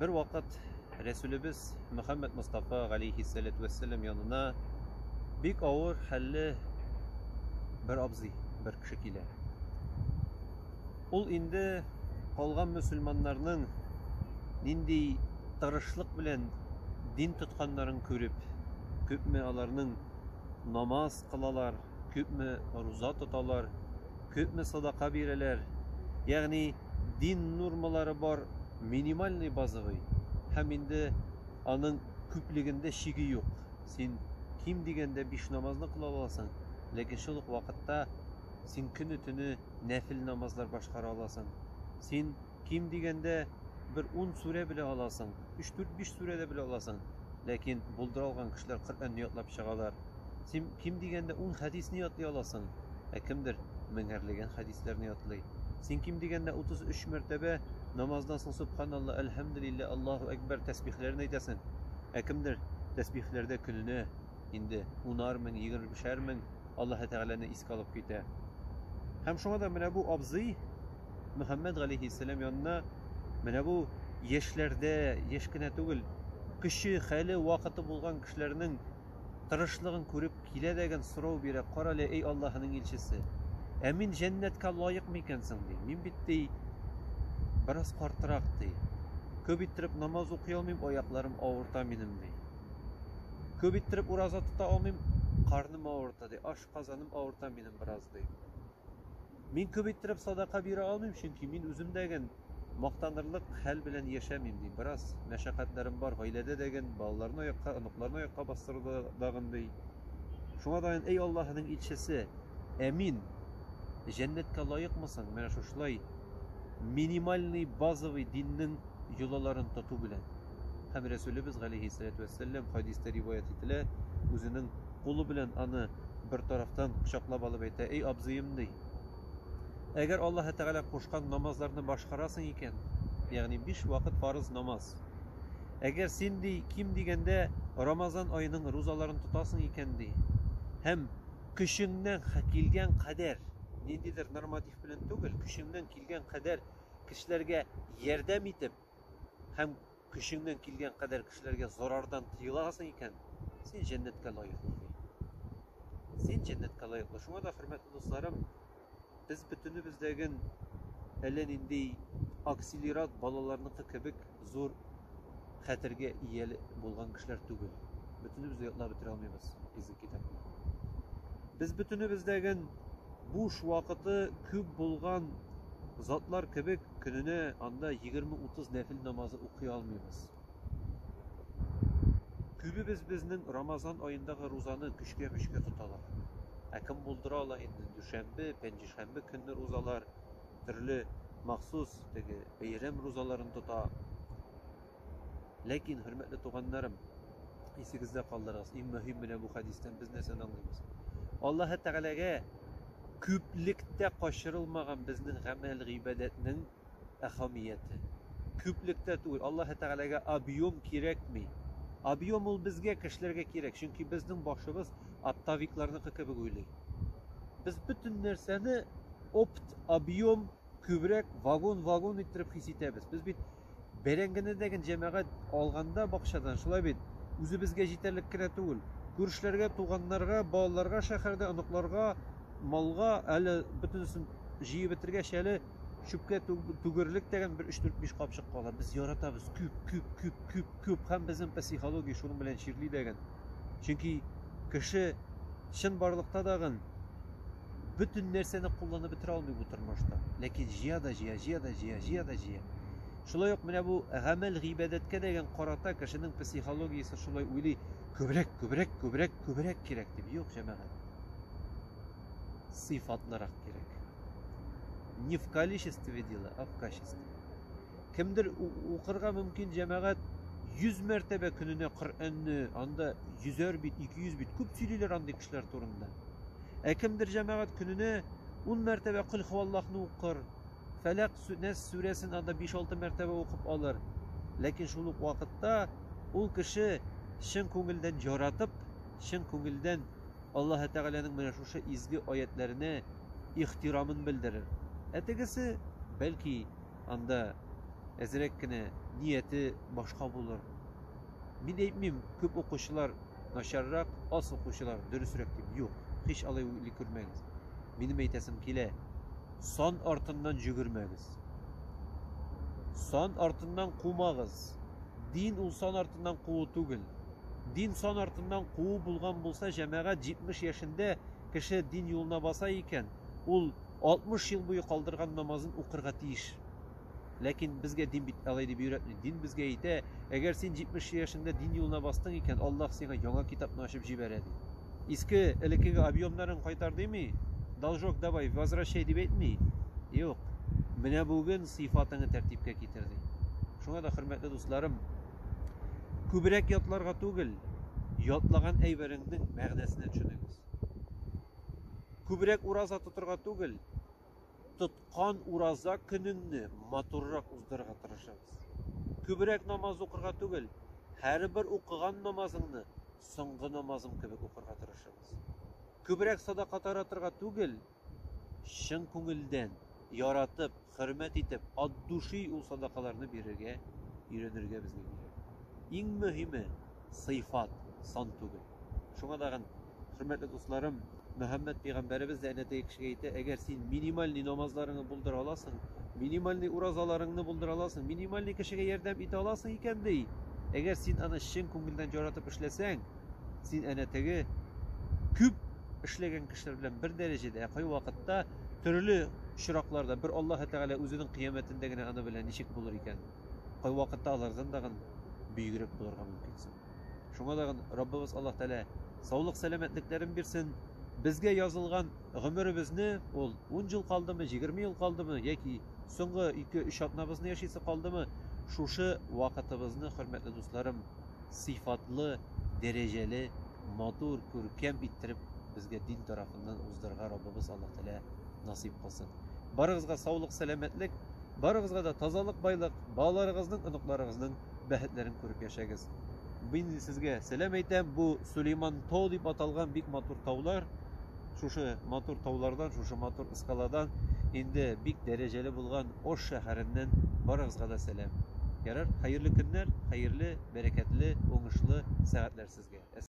Бер вакыт Рәсүлебез Мөхәммәд Мостафа галәйһиссәләтү вәссәлам янына бик авыр хәлле бер абзый, бер кеше килә. Ул инде калган мөселманнарның нинди тырышлык белән дин тотканнарын күреп, күпме аларның намаз кылалар, күпме руза тоталар, күпме садака бирәләр, ягъни дин нормалары бар, минимальный базовый, һәм инде аның күплегендә чиге юк. Син ким дигәндә биш намазны кыла аласың, ләкин шул ук вакытта син көне-төне нәфел намазлар башкара аласың. Син ким дигәндә бер ун сүрә белә аласың, өч, дүрт, биш сүрә дә белә аласың. Ләкин булдыра алган кешеләр Коръәнне ятлап чыгалар. Син ким дигәндә ун хәдисне ятлый аласың, ә кемдер меңәрләгән хәдисләрне ятлый. Син ким дигәндә утыз өч мәртәбә намаздан соң Сөбханалла, Әлхәмдүлиллә, Аллаһу әкбәр тәсбихләрен әйтәсең, ә кемдер тәсбихләрдә көненә инде унар мең, егермешәр мең Аллаһы Тәгаләне искә алып китә. Һәм шуңа да менә бу абзый Мөхәммәд галәйһиссәлам янына менә бу яшьләрдә, яшь кенә түгел, көче, хәле, вакыты булган кешеләрнең тырышлыгын күреп килә дәген сорау бирә, кара әле, эй Аллаһының илчесе, ә мин җәннәткә лаек микән соң, ди. Мин бит, ди, бераз картырак, ди. Күп иттереп намаз укый алмыйм, аякларым авырта минем, ди. Күп иттереп ураза тота алмыйм, карным авырта, ди, ашказаным авырта минем бераз, ди. Мин күп иттереп садака бирә алмыйм, чөнки мин үзем дә ген мактанырлык хәл белән яшәмим, ди. Бераз мәшәкатьләрем бар, гаиләдә дә ген, балаларны аякка, оныкларны аякка бастыруда да ген, ди. Шуңа да ген, әй Аллаһының илчесе, ә мин җәннәткә лаекмы соң менә шушылай минимальный, базовый диннең йолаларын тоту белән? Һәм Рәсүлебез, галәйһиссәләтү вәссәлләм, хәдистә риваять ителә, үзенең кулы белән аны бер тарафтан кочаклап алып әйтә, Эй, абзыем, ди, әгәр Аллаһы Тәгалә кушкан намазларны башкарасың икән, ягъни биш вакыт фарыз намаз, әгәр син, ди, ким дигәндә Рамазан аеның рузаларын тотасың икән, ди, һәм көчеңнән килгән кадәр, ниндидер норматив белән түгел, көчеңнән килгән кадәр кешеләргә ярдәм итеп, һәм көчеңнән килгән кадәр кешеләргә зарардан тыеласың икән, син җәннәткә лаеклы, ди. Син җәннәткә лаеклы. Шуңа да, хөрмәтле дусларым, без бөтенебездәген әллә нинди акселерат балаларныкы кебек зур хәтергә ия булган кешеләр түгел. Бөтенебез дә ятлап бетерә алмыйбыз изге китапны. Без бөтенебездәген Буш вакыты күп булган затлар кебек, көненә анда егерме-утыз нәфел намазы укый алмыйбыз. Күбебез безнең Рамазан аендагы рузаны көчкә-мөчкә тоталар. Ә кем булдыра ала инде, дүшәмбе, пәнҗешәмбе көнне рузалар, төрле махсус теге бәйрәм рузаларын тота. Ләкин, хөрмәтле туганнарым, исегездә калдырыгыз, иң мөһим менә бу хәдистән без нәрсәне аңлыйбыз? Аллаһы Тәгаләгә күплектә качырылмаган безнең гамәл гыйбадәтнең әһәмияте. Күплектә түгел, Аллаһы Тәгаләгә объем кирәкми. Объем ул безгә, кешеләргә кирәк, чөнки безнең башыбыз оптовикларныкы кебек уйлый. Без бөтен нәрсәне опт, объем, күбрәк вагон-вагон иттереп хис итәбез. Без бит Бәрәңгенедәге җәмәгать алганда бакчадан, шулай бит, үзебезгә җитәрлек кенә түгел, күршеләргә, туганнарга, балаларга шәһәрдә, оныкларга, малга, әле бөтенесен җыеп бетергәч, әле чүпкә түгерлек тәгән бер өч-дүрт-биш капчык кала. Без яратабыз, күп, күп, күп, күп, күп, һәм безнең психология шуның белән чирли дәгән. Чөнки кеше чынбарлыкта да гын бөтен нәрсәне кулланып бетерә алмый бу тормышта. Ләкин җыя да җыя, җыя да җыя, җыя да җыя. Шулай ук менә бу гамәл гыйбадәткә дәген карата кешенең психологиясе шулай уйлый, күбрәк, күбрәк, күбрәк, күбрәк кирәк дип. Юк, җәмәгать. Сыйфатлырак кирәк. Не в количестве дело, а в качестве. Кемдер укырга мөмкин, җәмәгать, 100 мәртәбә көненә Коръәнне, анда 100 әр бит, 200 бит, күп сөйлиләр андый кешеләр турында. Ә кемдер җәмәгать көненә 10 мәртәбә Көл хуваллахны укыр, Фәләк сүнәс сүрәсен анда 5-6 мәртәбә укып алыр. Ләкин шул ук вакытта ул кеше чын күңелдән яратып, чын күңелдән Аллаһ Тәгаләнең менә шушы изге аятләренә ихтирамын белдерер. Ә тегесе, бәлки, анда әзрәк кенә нияте башка булыр. Мин әйтмим, күп укучылар начаррак, аз укучылар дөресрәк дип. Юк, һич алай уйлый күрмәгез. Минем әйтәсем килә, сан артыннан җөгермәгез. Сан артыннан кумагыз. Дин ул сан артыннан куу түгел. Дин сан артыннан куу булган булса, җәмәгать 70 яшендә кеше дин юлына баса икән, ул 60 ел буе калдырган намазын укырга тиеш. Ләкин безгә дин бит алай дип өйрәтми. Дин безгә әйтә, әгәр син 70 яшеңдә дин юлына бастың икән, Аллаһ сиңа яңа китапны ачып җибәрә, ди. Иске, элеккеге объемнарын кайтар дими, должок давай, возвращай дип әйтми. Юк. Менә бүген сыйфатыңны тәртипкә китер, ди. Шуңа да, хөрмәтле дусларым, күбрәк ятларга түгел, ятлаган әйбереңнең мәгънәсенә төшенегез. Күбрәк ураза тотырга түгел, тоткан ураза көнеңне матуррак уздырырга тырышабыз. Күбрәк намаз укырга түгел, һәрбер укыган намазыңны соңгы намазым кебек укырга тырышабыз. Күбрәк садака таратырга түгел, чын күңелдән, яратып, хөрмәт итеп, от души ул садакаларны бирергә өйрәнергә безгә кирәк. Иң мөһиме, сыйфат, сан түгел. Шуңа тагын, хөрмәтле дусларым, Мөхәммәд пәйгамбәребез дә әнә теге кешегә әйтә, әгәр син минимальный намазларыңны булдыра аласың, минимальный уразаларыңны булдыра аласың, минимальный кешегә ярдәм итә аласың икән, ди, әгәр син аны чын күңелдән яратып эшләсәң, Син әнә теге күп эшләгән кешеләр белән бер дәрәҗәдә, ә кайвакытта төрле очракларда бер Аллаһы Тәгалә үзенең кыяметендә генә аны белә ничек булыр икән. Кайвакытта алардан дагын бөегрәк булырга мөмкинсең. Шуңа дагын Раббыбыз Аллаһ Тәгалә саулык сәламәтлекләрен бирсен. Безгә язылган гомеребезне ул 10 ел калдымы, 20 ел калдымы яки соңгы 2-3 атнабызны яшисе калдымы, шушы вакытыбызны, хөрмәтле дусларым, сыйфатлы, дәрәҗәле, матур, күркәм иттереп безгә дин тарафыннан уздырырга Раббыбыз Аллаһ Тәгалә насыйп кылсын. Барыгызга саулык, сәламәтлек, барыгызга да тазалык, байлык, балаларыгызның, оныкларыгызның бәхетләрен күреп яшәгез. Мин сезгә сәлам әйтәм, бу Сулейман тау дип аталган бик матур таулар. Шушы матур таулардан, шушы матур ыскаладан, инде бик дәрәҗәле булган Ош шәһәреннән барыгызга да сәлам. Ярар, хәерле көннәр, хәерле, бәрәкәтле, уңышлы сәгатьләр сезгә.